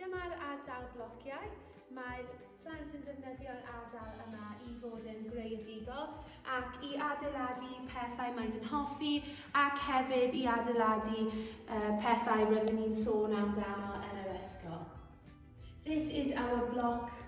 Dyma'r ardal blociau. Mae'r plant yn defnyddio'r ardal yma i fod yn greadigol ac i adeiladu pethau maent yn hoffi ac hefyd i adeiladu uh, pethau rydyn ni'n sôn amdano yn yr ysgol. This is our block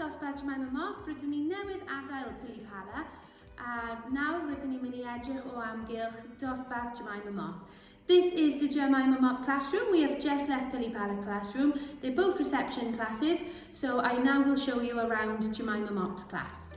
Dosbarth Jemima Mop, rydyn ni newydd adael Pili Pala, a nawr rydyn ni'n mynd i edrych o amgylch dosbarth Jemima Mop. This is the Jemima Mop classroom. We have just left Pili Pala classroom. They're both reception classes, so I now will show you around Jemima Mop's class.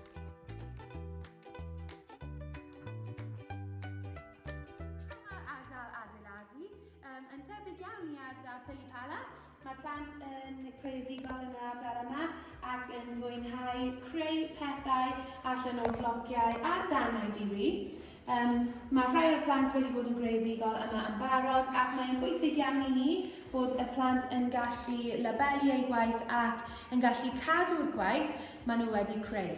yn tebyg iawn i ardal Pilipala. Mae'r plant yn creadigol yn yr ardal yma ac yn fwynhau creu pethau allan o'r blogiau a danau diri. Um, mae rhai o'r plant wedi bod yn greadigol yma yn barod ac mae'n bwysig iawn i ni bod y plant yn gallu labelu eu gwaith ac yn gallu cadw'r gwaith maen nhw wedi creu.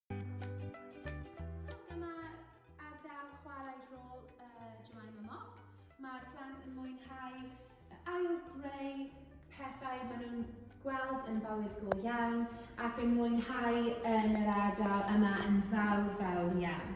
Dyma ardal chwarae rôl uh, Jemima Mock. Mae'r plant yn mwynhau ail greu pethau maen nhw'n gweld yn bywyd go iawn ac yn mwynhau yn yr ardal yma yn fawr fawr iawn.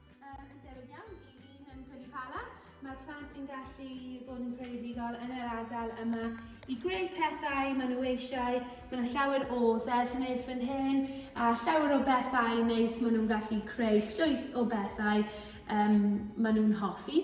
Yn debyg iawn i un yn Pwll Pala, mae'r plant yn gallu bod yn creadigol yn yr ardal yma i greu pethau maen nhw eisiau. Mae yna llawer o ddefnydd fan hyn a llawer o bethau neis maen nhw'n gallu creu llwyth o bethau um, maen nhw'n hoffi.